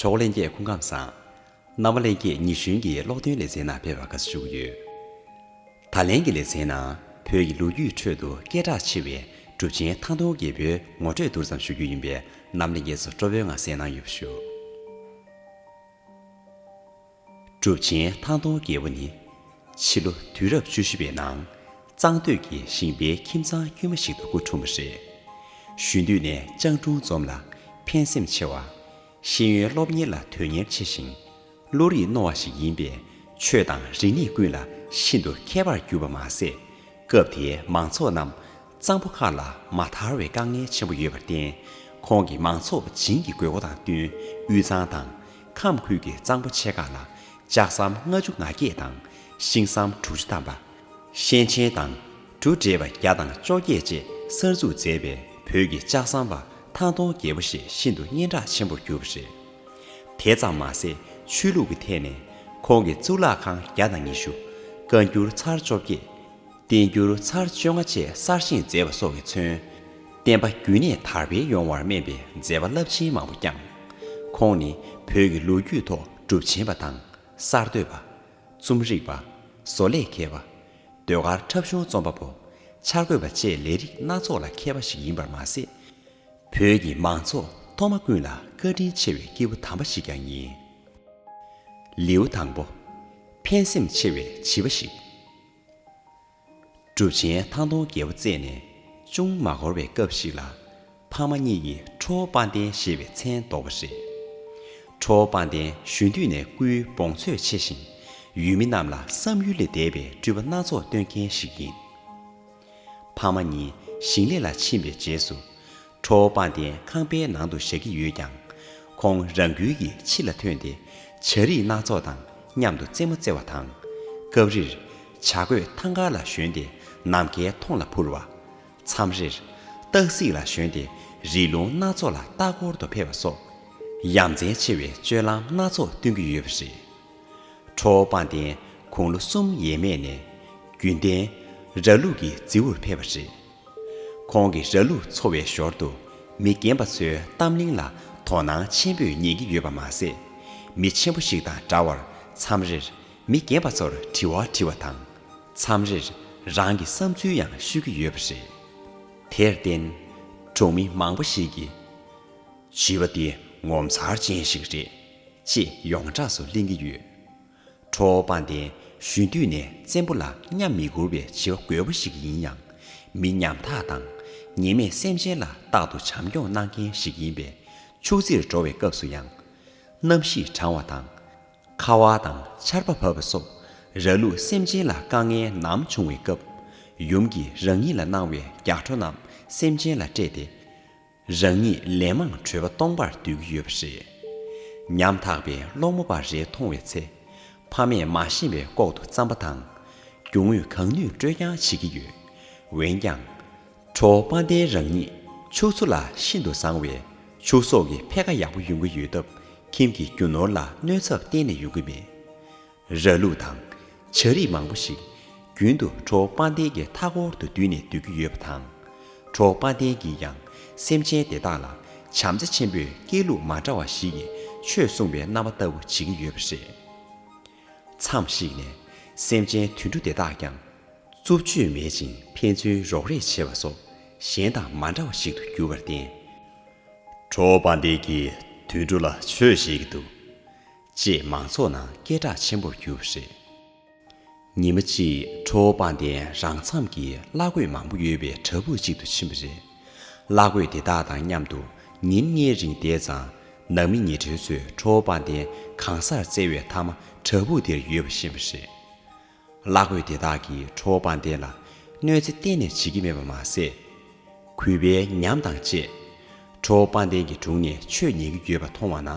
གྲོགས་ལྷན་རྒྱས་སྐུ་ཁམས་བཟང། རྣ་བ་ལྷན་རྒྱས་ཉི་གཞོན་གྱིས་གློག་འདོན་ལེ་ཚན་ནང་ཕེབས་པར་དགའ་བསུ་ཞུ་གི་ཡོད། ད་ལན་གྱི་ལེ་ཚན་ནང་བོད་ཀྱི་ལོ་རྒྱུས་ཁྲོད་དུ་སྐད་གྲགས་ཆེ་བའི་གྲུབ་ཆེན་ཐང་སྟོང་རྒྱལ་པོའི་ངོ་སྤྲོད་བསྡུར་ཙམ་ཞུ་རྒྱུ་ཡིན་པས་རྣམ་ལྷན་རྒྱས་སུ་སྤྲོ་བོའི་ངང་གསན་གནང་ཡོད་པ་ཞུ། གྲུབ་ཆེན་ཐང་སྟོང་རྒྱལ་པོ་ནི། ཕྱི་ལོ་དུས་རབས་བཅུ་བཞི་པའི་ནང། གཙང་སྟོད་ཀྱི་ཞིང་པའི་ཁྱིམ་ཚང་དཀྱུས་མ་ཞིག་ཏུ་སྐུ་འཁྲུངས་པ་རེད། གཞོན་དུས་ནས་སྤྱང་གྲུང་འཛོམས་ལ་ཕན་སེམས་ཆེ་བ། ཤེས་ཡོན་སློབ་གཉེར་ལ་དོན་སྙིང་ཆེ་ཞིང། བློ་རིག་རྣོ་བ་ཞིག་ཡིན་པས་ཆོས་དང་རིག་གནས་ཀུན་ལ་ཤིན་ཏུ་མཁས་པར་གྱུར་པ་མ་ཟད། སྐབས་དེའི་མང་ཚོགས་རྣམས་གཙང་པོ་ཁག་ལ་མ་དར་བའི་དཀའ་ངལ་ཆེན་པོ་ཡོད་པར་བརྟེན། ཁོང་གིས་མང་ཚོགས་བྱིངས་ཀྱི་དགོས་མཁོ་དང་བསྟུན་དབུས་གཙང་དང། ཁམས་ཁུལ་གྱི་གཙང་པོ་ཆེ་ཁག་ལ་ལྕགས་ཟམ་ལྔ་བཅུ་ང་བརྒྱད་དང་ཤིང་ཟམ་དྲུག་ཅུ་ཐམ་པ། ཤན་ཆེན་དང། གྲུ་འདྲེས་པ་བརྒྱ་དང་བཅོ་བརྒྱད་བཅས་གསར་འཛུགས་མཛད་པས་བོད་ཀྱི་ལྕགས་ཟམ་པ་ཐང་སྟོང་རྒྱལ་པོ་ཞེས་ཤིན་ཏུ་སྙན་གྲགས་ཆེན་པོར་གྱུར་པ་རེད། དེ་ཙམ་མ་ཟད་ཆོས་ལུགས་ཀྱི་ཐད་ནས་ཁོང་གིས་གཙུག་ལག་ཁང་བརྒྱ་དང་ཉི་ཤུ། བཀའ་འགྱུར་ཚར་བཅོ་བརྒྱད། བརྟན་འགྱུར་ཚར་བཅོ་ལྔ་བཅས་གསར་བཞེངས་མཛད་པ་སོགས་ཀྱིས་མཚོན། བསྟན་པ་རྒྱུན་གནས་དར་འཕེལ་ཡོང་བར་སྨན་པའི་མཛད་པ་རླབས་ཆེན་མང་པོ་བསྐྱངས། ཁོང་ནི་བོད་ཀྱི་ལོ་རྒྱུས་ཐོག་གྲུབ་ཆེན་པ་དང། གསར་གཏོད་པ། རྩོམ་རིག་པ། བཟོ་ལས་མཁས་པ། ཟློས་གར་འཁྲབ་གཞུང་རྩོམ་པ་པོ། འཆར་འགོད་པ་བཅས་ལས་རིགས་སྣ་ཚོགས་ལ་མཁས་པ་ཞིག་ཡིན་པར་མ་ཟད། བོད་ཀྱི་མང་ཚོགས་ཐོག་མ་ཀུན་ལ་བཀའ་དྲིན་ཆེ་བའི་སྐྱེས་བུ་དམ་པ་ཞིག་ཀྱང་ཡིན། ལེའུ་དང་པོ། ཕན་སེམས་ཆེ་བའི་བྱིས་པ་ཞིག། གྲུབ་ཆེན་ཐང་སྟོང་རྒྱལ་པོ་བཙས་ནས་ཅུང་མ་འགོར་བའི་སྐབས་ཤིག་ལ། ཕ་མ་གཉིས་ཀྱིས་ཁྲོ་བོ་དཔའ་ལྡན་ཞེས་པའི་མཚན་འདོགས་པ་རེད། ཁྲོ་བོ་དཔའ་ལྡན་གཞོན་དུས་ནས་སྐུའི་བོངས་ཚོད་ཆེ་ཞིང། ཡུལ་མི་རྣམས་ལ་བསམ་ཡུལ་ལས་འདས་པའི་སྤྲུལ་པ་སྣ་ཚོགས་སྟོན་མཁན་ཞིག་ཡིན། ཕ་མ་གཉིས་ཞིང་ལས་ལ་ཕྱིན་པའི་རྗེས་སུ། ཁྲོ་བོ་པཎ་ཏའི་ཁང་པའི་ནང་དུ་བཞག་གི་ཡོད་ཀྱང། ཁོང་རང་འགུལ་གྱིས་ཕྱི་ལ་ཐོན་ཏེ་བྱ་རིགས་སྣ་ཚོགས་དང་མཉམ་དུ་རྩེད་མོ་རྩེ་བ་དང། སྐབས་རེར། བྱ་རྒོད་ཐང་དཀར་ལ་ཞོན་ཏེ་ནམ་མཁའི་མཐོངས་ལ་འཕུར་བ། མཚམས་རེར། སྟག་གཟིག་ལ་ཞོན་ཏེ་རི་ལུང་སྣ་ཚོགས་ལ་ལྟ་སྐོར་དུ་ཕེབས་པ་སོགས། ཡ་མཚན་ཆེ་བའི་སྤྱོད་ལམ་སྣ་ཚོགས་སྟོན་གྱི་ཡོད་པ་རེད། ཁྲོ་བོ་པཎ་ཏའི་གུང་ལོ་གསུམ་ཡས་མས་ནས། རྒྱུན་གཏན། ར་ལུག་གི་རྫི་བོར་ཕེབས་པ་རེད། ཁོང་གི་ར་ལུག་འཚོ་བའི་ཞོར་དུ། མི་རྒན་པ་ཚོའི་གཏམ་གླེང་ལ་དོ་སྣང་ཆེན་པོས་ཉན་གྱི་ཡོད་པ་མ་ཟད། མི་ཆེན་པོ་ཞིག་དང་འདྲ་བར་མཚམས་རེར་མི་རྒན་པ་ཚོར་དྲི་བ་དྲིས་བ་དང། མཚམས་རེར་རང་གི་བསམ་ཚུལ་ཡང་ཤོད་ཀྱི་ཡོད་པ་རེད། དེར་བརྟེན། གྲོང་མི་མང་པོ་ཞིག་གིས། བྱིས་པ་འདི་ངོ་མཚར་ཅན་ཞིག་རེད། ཅེས་ཡོངས་གྲགས་སུ་གླེང་གི་ཡོད། ཁྲོ་བོ་དཔའ་ལྡན་གཞོན་དུས་ནས་བཙན་པོ་ལ་ཉམས་མི་འགུར་བའི་བྱིས་པ་རྒོད་པོ་ཞིག་ཡིན་ཡང། མི་ཉམས་ཐག་དང། ཉེས་མེད་སེམས་ཅན་ལ་རྟག་ཏུ་བྱམས་སྐྱོང་གནང་མཁན་ཞིག་ཡིན་པས། ཕྱུགས་རྫིར་འགྲོ་བའི་སྐབས་སུ་ཡང། གནམ་གཤིས་གྲང་བ་དང། ཁ་བ་དང་ཆར་པ་བབས་པ་སོགས། ར་ལུག་སེམས་ཅན་ལ་དཀའ་ངལ་ནམ་བྱུང་བའི་སྐབས། ཡུམ་གྱིས་རང་ཉིད་ལ་གནང་བའི་རྒྱགས་ཁྲོ་རྣམས་སེམས་ཅན་ལ་སྤྲད་དེ། རང་ཉིད་ལན་མང་བྲོས་པ་སྟོང་པར་སྡོད་ཀྱི་ཡོད་པ་རེད། ཉམ་ཐག་པའི་སློང་མོ་པ་རེ་མཐོང་བའི་ཚེ། ཕ་མས་མ་ཤེས་པའི་ལྐོག་ཏུ་རྩམ་པ་དང། རྒྱུ་དངོས་གང་ནུས་སྤྲོད་རྐྱང་བྱེད་ཀྱི་ཡོད། འོན་ཀྱང། ཁྲོ་བོ་དཔའ་ལྡན་རང་ཉིད་ཕྱུགས་འཚོ་ལ་ཤིན་ཏུ་བཟང་བས་ཕྱུགས་ཟོག་གི་འཕེལ་ཁ་ཡག་པོ་ཡོང་གི་ཡོད་སྟབས་ཁྱིམ་གྱི་རྒྱུ་ནོར་ལ་གནོད་ཚབས་གཏན་ནས་ཡོང་གི་མེད། ར་ལུག་དང་བྱ་རིགས་མང་པོ་ཞིག་རྒྱུན་དུ་ཁྲོ་བོ་དཔའ་ལྡན་གྱི་མཐའ་སྐོར་དུ་འདུས་ནས་སྡོད་ཀྱི་ཡོད་པ་དང། ཁྲོ་བོ་དཔའ་ལྡན་གྱིས་ཀྱང་སེམས་ཅན་དེ་དག་ལ་བྱམས་བརྩེ་ཆེན་པོས་སྐྱེས་ལུགས་མ་འདྲ་བ་ཞིག་གིས་ཆོས་གསུངས་པའི་རྣམ་པ་ལྟ་བུ་བྱེད་ཀྱི་ཡོད་པ་རེད། མཚམས་ཤིག་ནས་སེམས་ཅན་དུད་འགྲོ་དེ་དག་ཀྱང། རྩུབ་སྤྱོད་མེད་ཅིང་ཕན་ཚུན་རོགས་རེས་བྱེད་པ་སོགས་གཞན་དང་མ་འདྲ་བ་ཞིག་ཏུ་གྱུར་པར་བརྟེན། ཁྲོ་བོ་དཔའ་ལྡན་གྱིས་དུད་འགྲོ་ལ་ཆོས་བཤད་ཀྱི་འདུག་ཅེས་མང་ཚོགས་ནང་སྐད་གྲགས་ཆེན་པོར་གྱུར་བ་རེད། ཉིན་མ་གཅིག་ཁྲོ་བོ་དཔལ་ལྡན་རང་འཚམས་ཀྱིས་གླག་རྒོད་མང་པོ་ཡོད་པའི་བྲག་ཕུག་ཅིག་ཏུ་ཕྱིན་པ་རེད། གླག་རྒོད་དེ་དག་དང་མཉམ་དུ་ཉིན་ལྔའི་རིང་བསྡད་ཙང་ནང་མི་ཉེ་འབྲེལ་ཚོས་ཁྲོ་བོ་དཔལ་ལྡན་གང་སར་བཙལ་བའི་མཐའ་མ་བྲག་ཕུག་དེར་ཡོད་པ་ཤེས་པ་རེད། བླ་གོས་དེ་དག་གིས་ཁྲོ་བོ་དཔའ་འདས་ལ་གནོད་འཚེ་གཏན་ནས་བྱེད་ཀྱི་མེད་པར་མ་ཟད། གུས་པའི་ཉམས་དང་བཅས་ཁྲོ་བོ་དཔའ་འདས་ཀྱི་དྲུང་ནས་ཆོས་ཉན་གྱི་ཡོད་པ་མཐོང་བ་ན།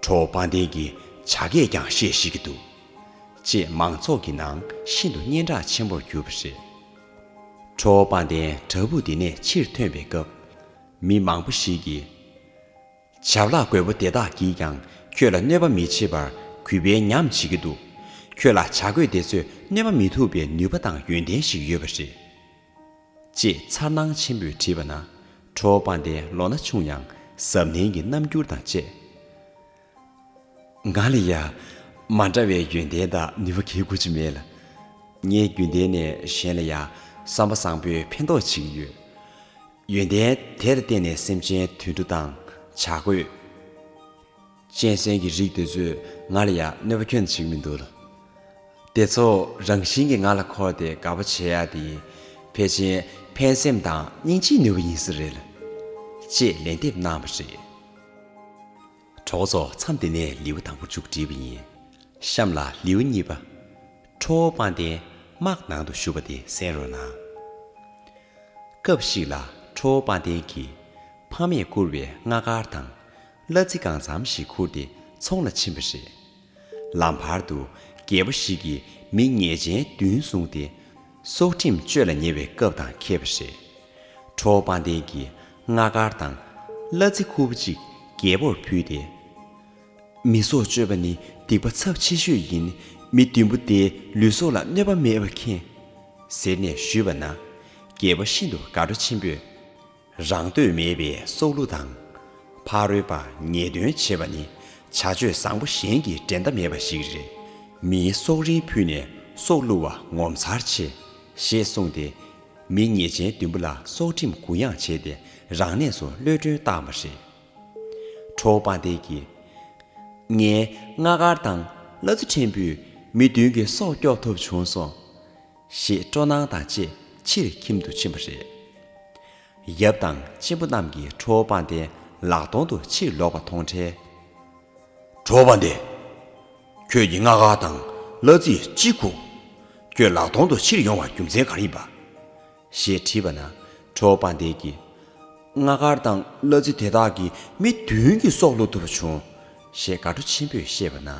ཁྲོ་བོ་དཔའ་འདས་ཀྱི་བྱ་སྐད་ཀྱང་བཤད་ཤེས་ཀྱི་འདུག། ཅེས་མང་ཚོགས་ཀྱི་ནང་ཤིན་ཏུ་སྙན་གྲགས་ཆེན་པོར་གྱུར་པ་རེད། ཁྲོ་བོ་དཔའ་འདས་དྲ་འབུ་འདི་ནས་ཕྱིར་ཐོན་པའི་སྐབས། མི་མང་པོ་ཞིག་གིས། བྱ་བླ་རྒོད་པོ་དེ་དག་གིས་ཀྱང་ཁྱོད་ལ་གནོད་པ་མི་བྱེད་པར་གུས་པས་ཉམས་བྱེད་ཀྱི་འདུག་ཁྱོད་ལ་བྱ་རྒོད་དེ་ཚོས་གནོད་པ་མི་ཐུབ་པའི་ནུས་པ་དང་ཡོན་ཏན་ཞིག་ཡོད་པ་རེད། ཅེས་མཚར་སྣང་ཆེན་པོས་དྲིས་པ་ན་ཁྲོ་བོ་དཔའ་ལྡན་ལོ་ན་ཆུང་ཡང་གཟབ་ནན་གྱི་རྣམ་འགྱུར་དང་བཅས། ང་ལ་ཡང་མ་འདྲ་བའི་ཡོན་ཏན་དང་ནུས་པ་གལ་དགུ་ཅི་མེད་ལ། ངའི་རྒྱུན་ལྡན་ནས་གཞན་ལ་ཡང་བསམ་པ་བཟང་པོའི་ཕན་ཐོགས་བྱེད་ཀྱི་ཡོད། ཡོན་ཏན་དེར་བརྟེན་ནས་སེམས་ཅན་དུད་འགྲོ་དང་བྱ་རྒོད། གཅན་གཟན་གྱི་རིགས་དེ་ཚོས་ང་ལ་ཡ་གནོད་པ་ཁྱོན་གཅིག་མི་འདུག། དེ་ཚོ་རང་བཞིན་གྱིས་ང་ལ་འཁོར་ཏེ་དགའ་པོ་བྱེད་ཡ་དེ། ཕལ་ཆེན་ཕན་སེམས་དང་སྙིང་རྗེའི་ནུས་པ་ཡིན་ས་རེད། ཅེས་ལན་འདེབས་གནང་བ་རེད། གྲོགས་ཚོགས་མཚམས་འདི་ནས་ལེའུ་དང་པོ་མཇུག་བསྒྲིལ་བ་ཡིན། གཤམ་ལ་ལེའུ་གཉིས་པ། ཁྲོ་བོ་སྤང་ལྡན་དམག་ནང་དུ་ཞུགས་པ་དེ་གསན་རོགས་གནང། སྐབས་ཤིག་ལ་ཁྲོ་བོ་སྤང་ལྡན་གྱིས་ཕ་མེས་བཀུར་བའི་རྔ་དཀར་དང། གླ་རྩི་གང་འཚམ་ཞིག་ཁུར་ཏེ་ཚོང་ལ་ཕྱིན་པ་རེད། ལམ་བར་དུ་རྒྱལ་པོ་ཞིག་གིས་མི་ཉེས་ཅན་བདུན་བཟུང་སྟེ། སྲོག་ཁྲིམས་གཅོད་ལ་ཉེ་བའི་སྐབས་དང་ཁེལ་པ་རེད། ཁྲོ་བོ་དཔའ་ལྡན་གྱིས་རྔ་སྐར་དང། གླ་རྩི་ཁུར་པོ་ཅིག་རྒྱལ་པོར་ཕུལ་ཏེ། མི་སྲོག་གཅོད་པ་ནི་སྡིག་པ་ཚབས་ཆེ་ཤོས་ཡིན། མི་བདུན་པོ་དེའི་ལུས་སྲོག་ལ་གནོད་པ་མེད་པར་མཁྱེན། ཟེར་ནས་ཞུས་པ་ན། རྒྱལ་པོ་ཤིན་ཏུ་དགའ་སྤྲོ་ཆེན་པོས། རང་འདོད་མེད་པའི་སྲོག་བསླུ་དང། ཕ་རོལ་པ་ངེས་དོན་བྱེད་པ་ནི་བྱ་སྤྱོད་བཟང་པོ་གཞན་གྱི་འགྲན་ཟླ་མེད་པ་ཞིག་རེད། མིའི་སྲོག་རིན་ཕུད་ནས་སྲོག་བསླུ་བ་ངོ་མཚར་ཆེ། ཞེས་གསུངས་ཏེ། མི་ཉེས་ཅན་བདུན་པོ་ལ་སྲོག་ཁྲིམས་གུ་ཡངས་བྱས་ཏེ་རང་གནས་སུ་གློད་བཀྲོལ་བཏང་བ་རེད། ཁྲོ་དཔའ་འདས་ཀྱིས། ངའི་རྔ་གར་དང་གླ་རྩི་ཕྲན་བུས་མི་བདུན་གྱི་སྲོག་སྐྱོབ་ཐུབ་བྱུང་སོང། ཞེས་སྤྲོ་སྣང་དང་བཅས་ཕྱིར་ཁྱིམ་དུ་ཕྱིན་པ་རེད། ཡབ་དང་གཅེན་པོ་རྣམས་ཀྱིས་ཁྲོ་བོ་པཎ་ཏའི་ལག་སྟོང་དུ་ཕྱིར་ལོག་པ་མཐོང་འཕྲལ། ཁྲོ་བོ་པཎ་ཏས། ཁྱོད་ཀྱི་སྔགས་ཁ་དང་གླ་རྩི་ཅི་ཁུག། ཁྱོད་ལག་སྟོང་དུ་ཕྱིར་ཡོང་བར་རྒྱུ་མཚན་གང་ཡིན་པ། ཞེས་དྲིས་པ་ན་ཁྲོ་བོ་པཎ་ཏས་ཀྱིས། སྔགས་ཁར་དང་གླ་རྩི་དེ་དག་གིས་མི་བདུན་གྱི་སྲོག་བསླུ་ཐུབ་པ་བྱུང། ཞེས་དགའ་སྤྲོ་ཆེན་པོས་བཤད་པ་ན།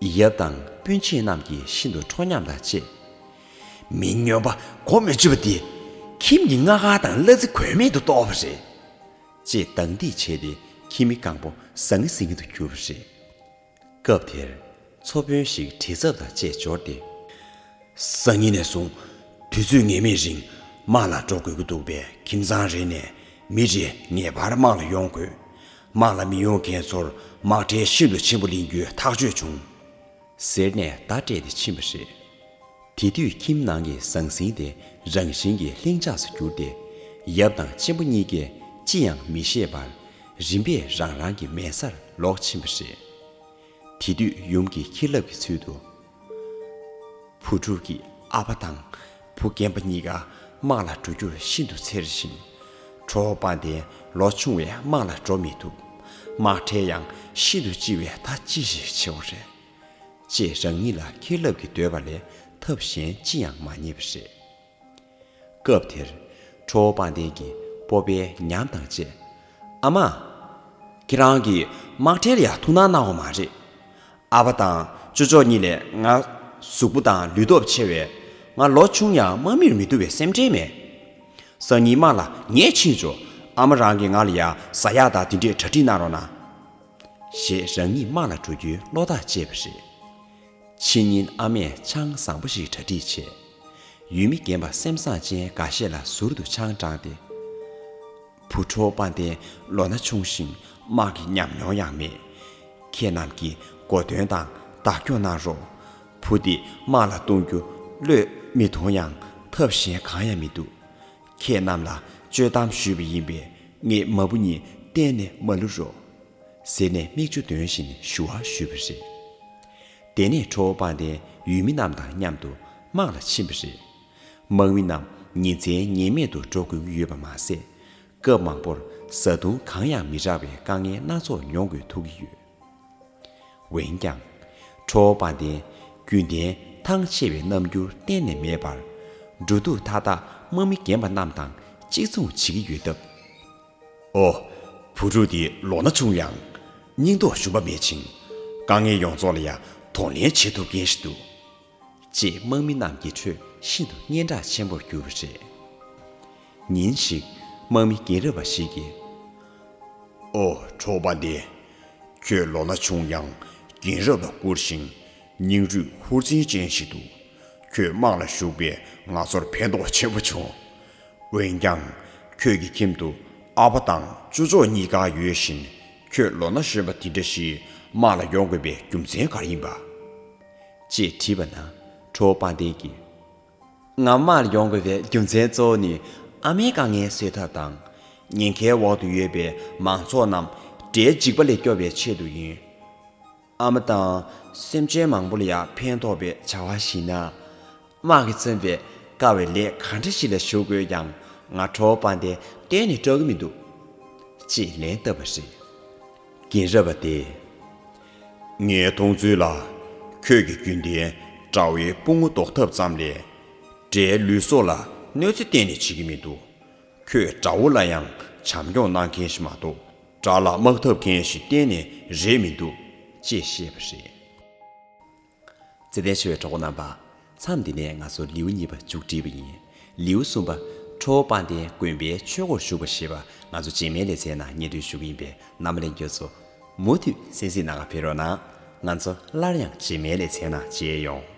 ཡབ་དང་སྤུན་མཆེད་རྣམས་ཀྱིས་ཤིན་ཏུ་ཁྲོ་ཉམས་དང་བཅས། མི་སྨྱོན་པ་གོ་མི་ཆོད་པ་འདི། ཁྱིམ་གྱི་རྔ་ཁ་དང་གླ་རྩི་གོས་མེད་དུ་གཏོགས་པ་རེད། ཅེས་དག་སྡིག་བྱས་ཏེ་ཁྱིམ་མི་རྐང་པོ་ཟང་ཟིང་དུ་གྱུར་པ་རེད། སྐབས་དེར། ཚོ་དཔོན་ཞིག་བྲེལ་འཚབ་དང་བཅས་འབྱོར་ཏེ། སང་ཉིན་ནས་བཟུང་དུས་ཚོད་ངེས་མེད་རིང་དམག་ལ་འགྲོ་དགོས་ཀྱི་འདུག་པས་ཁྱིམ་ཚང་རེ་ནས་མི་རེ་ངེས་པར་དམག་ལ་ཡོང་དགོས། དམག་ལ་མི་ཡོང་མཁན་ཚོར་དམག་གྲལ་ཤིན་ཏུ་ཆེན་པོ་གླེང་རྒྱུའི་ཐག་གཅོད་བྱུང། ཟེར་ནས་བརྡ་སྤྲད་དེ་ཕྱིན་པ་རེད། དེ་དུས་ཁྱིམ་ནང་གི་ཟང་ཟིང་དེ་རང་བཞིན་གྱིས་ལྷིང་འཇགས་སུ་གྱུར་ཏེ། ཡབ་དང་གཅེན་པོ་གཉིས་ཀས་ཅི་ཡང་མི་བཤད་པར་རིམ་པས་རང་རང་གི་མལ་སར་ལོག་ཕྱིན་པ་རེད། དེ་དུས་ཡུམ་གྱིས་ཁྱི་ལབ་ཀྱི་ཚུལ་དུ། བུ་ཕྲུག་གི་ཨ་ཕ་དང་བུ་རྒན་པ་གཉིས་ཀ་དམག་ལ་འགྲོ་རྒྱུར་ཤིན་ཏུ་འཚེར་ཞིང། ཁྲོ་བོ་དཔའ་དེ་ལོ་ཆུང་བས་དམག་ལ་འགྲོ་མི་ཐུབ། དམག་ཁྲལ་ཡང་ཤིན་ཏུ་ལྕི་བས་ད་ཅི་ཞིག་བྱེད་བོ་རེད། ཅེས་རང་ཉིད་ལ་ཁེར་ལབ་ཀྱིས་སྡོད་པ་ལས་ཐབས་གཞན་ཅི་ཡང་མ་རྙེད་པ་རེད། སྐབས་དེར། ཁྲོ་བོ་དཔལ་ལྡན་གྱི་སྤོབས་པའི་ཉམས་དང་བཅས། ཨ་མ། ཁྱེད་རང་གིས་དམག་ཁྲལ་ཡག་ཐུགས་སྣང་གནང་བ་མ་རེད། ཨ་ཕ་དང་ཅོ་ཅོ་གཉིས་ལས་ང། གཟུགས་པོ་དང་ལུས་སྟོབས་ཆེ་བས། ང་ལོ་ཆུང་ཡང་དམག་མིར་མི་བསྡུ་བའི་སེམས་ཁྲལ་མེད། སང་ཉིན་དམག་ལ་ངས་ཕྱིན་ཆོག་ཨ་མ་རང་གིས་ང་ལ་ཡ་བཟའ་ཡག་དག་དེ་འདྲས་གྲ་སྒྲིག་གནང་རོགས་གནང། ཞེས་རང་ཉིད་དམག་ལ་འགྲོ་རྒྱུའི་བློ་ཐག་བཅད་པ་རེད། ཕྱི་ཉིན་ཨ་མས་ཆང་བཟང་པོ་ཞིག་གྲ་སྒྲིག་བྱས། ཡུལ་མི་རྒན་པ་སེམས་བཟང་ཅན་འགའ་ཤས་ལ་ཟུར་དུ་ཆང་དྲངས་ཏེ། བུ་ཁྲོ་དཔའ་ལྡན་ལོ་ན་ཆུང་ཞིང་དམག་གི་ཉམས་མྱོང་ཡང་མེད། ཁྱེད་རྣམས་ཀྱིས་གོ་དོན་དང་བདག་སྐྱོང་གནང་རོགས། བུ་འདི་དམག་ལ་གཏོང་རྒྱུ་བློས་མི་ཐོང་ཡང་ཐབས་གཞན་གང་ཡང་མི་འདུག་ཁྱེད་རྣམས་ལ་བཅོལ་གཏམ་ཞུས་པ་ཡིན་པས་ངེད་མ་བུ་གཉིས་གཏན་ནས་མ་བསླུ་རོགས། ཟེར་ནས་མིག་ཆུ་འདོན་བཞིན་ཞུ་བ་ཞུས་པ་རེད། དེ་ནས་ཁྲོ་བོ་པཎ་ཏའི་ཡུལ་མི་རྣམས་དང་མཉམ་དུ་དམག་ལ་ཕྱིན་པ་རེད། དམག་མི་རྣམས་ཉིན་མཚན་ངེས་མེད་དུ་འགྲོ་དགོས་ཀྱི་ཡོད་པ་མ་ཟད། སྐབས་མང་པོར་བཟའ་བཏུང་གང་ཡང་མི་རག་པའི་དཀའ་ངལ་སྣ་ཚོགས་མྱོང་དགོས་ཐུག་གི་ཡོད། འོན་ཀྱང། ཁྲོ་བོ་པཎ་ཏའི་རྒྱུན་གཏན་ཐང་ཆད་པའི་རྣམ་འགྱུར་གཏན་ནས་མེད་པར། འགྲོ་འདུག་མཐའ་དག་དམག་མི་རྒན་པ་རྣམས་དང་གཅིག་མཚུངས་བྱེད་ཀྱི་ཡོད་སྟབས། ཨོ། བུ་ཕྲུག་འདི་ལོ་ན་ཆུང་ཡང། སྙིང་སྟོབས་ཞུམ་པ་མེད་ཅིང། དཀའ་ངལ་ཡོངས་རྫོགས་ལ་ཡང་དུང་ལེན་བྱེད་ཐུབ་མཁན་ཞིག་འདུག། ཅེས་དམག་མི་རྣམས་ཀྱི་ཁྲོད་ཤིན་ཏུ་སྙན་གྲགས་ཆེན་པོར་གྱུར་བ་རེད། ཉིན་ཞིག་དམག་མི་རྒན་རབས་པ་ཞིག་གིས། ཨོ། གྲོགས་པ་འདི། ཁྱོད་ལོ་ན་ཆུང་ཡང་རྒན་རབས་ལ་བཀུར་ཞིང་སྙིང་རུས་ཧུར་བརྩོན་ཅན་ཞིག་འདུག་ཁྱོད་དམག་ལ་ཞུགས་པས་ང་ཚོར་ཕན་ཐོགས་ཆེན་པོ་བྱུང། འོན་ཀྱང། ཁྱོད་ཀྱི་ཁྱིམ་དུ་ཨ་ཕ་དང་ཅོ་ཅོ་གཉིས་ཀ་ཡོད་བཞིན་ཁྱོད་ལོ་ན་གཞོན་པ་དེ་འདྲ་ཞིག་དམག་ལ་ཡོང་དགོས་པའི་རྒྱུ་མཚན་ག་རེ་ཡིན་པ། ཅེས་དྲིས་པ་ན་ཁྲོ་བོ་པཎ་ཏས་ཀྱིས། ང་དམག་ལ་ཡོང་དགོས་པའི་རྒྱུ་མཚན་གཙོ་བོ་ནི་ཨ་མའི་དཀའ་ངལ་སེལ་ཐབས་དང། ཉེན་ཁའི་འོག་ཏུ་ཡོད་པའི་མང་ཚོགས་རྣམས་དགྲའི་འཇིགས་པ་ལས་སྐྱོབ་པའི་ཆེད་དུ་ཡིན། ཨ་མ་དང་སེམས་ཅན་མང་པོ་ལ་ཡང་ཕན་ཐོགས་པའི་བྱ་བ་ཞིག་ན། དམག་གིས་བཙོན་པའི་དཀའ་བའི་ལས་ག་འདྲ་ཞིག་ལ་ཞུགས་དགོས་ཀྱང་ང་གྲོགས་པ་འདི་གཏན་ནས་སྐྲག་གི་མི་འདུག། ཅེས་ལན་བཏབ་པ་རེད། རྒན་རབས་པ་དེས། ངའི་མཐོང་ཚུལ་ལ། ཁྱོད་ཀྱི་རྒྱུན་ལྡན་དྲ་བའི་སྤུན་ངོ་ཟློག་ཐབས་ཙམ་ལས། དགྲའི་ལུས་སྲོག་ལ་གནོད་འཚེ་གཏན་ནས་བྱེད་ཀྱི་མི་འདུག། ཁྱོད་དགྲ་བོ་ལ་ཡང་བྱམས་སྐྱོང་གནང་མཁན་ཞིག་མ་གཏོགས་དགྲ་ལ་དམག་འཐབ་མཁན་ཞིག་གཏན་ནས་རེད་མི་འདུག་ཅེས་བཤད་པ་རེད། བརྩེ་ལྡན་ཆོས་གྲོགས་རྣམ་པ། མཚམས་འདི་ནས་ང་ཚོ་ལེའུ་གཉིས་པ་མཇུག་སྒྲིལ་བ་ཡིན། ལེའུ་གསུམ་པ། ཁྲོ་བོ་དཔལ་ལྡན་དགོན་པའི་ཆོས་སྒོར་ཞུགས་པ་ཞེས་པ་ང་ཚོ་རྗེས་མའི་ལེ་ཚན་ནང་སྙན་སྒྲོན་ཞུ་གི་ཡིན་པས་ནམ་མ་ལེན་ཁྱོད་ཚོ། མུ་མཐུད་གསན་གཟིགས་གནང་ག་འཕེལ་རོགས་གནང། ང་ཚོ་སླར་ཡང་རྗེས་མའི་ལེ་ཚན་ནང་མཇལ་ཡོང།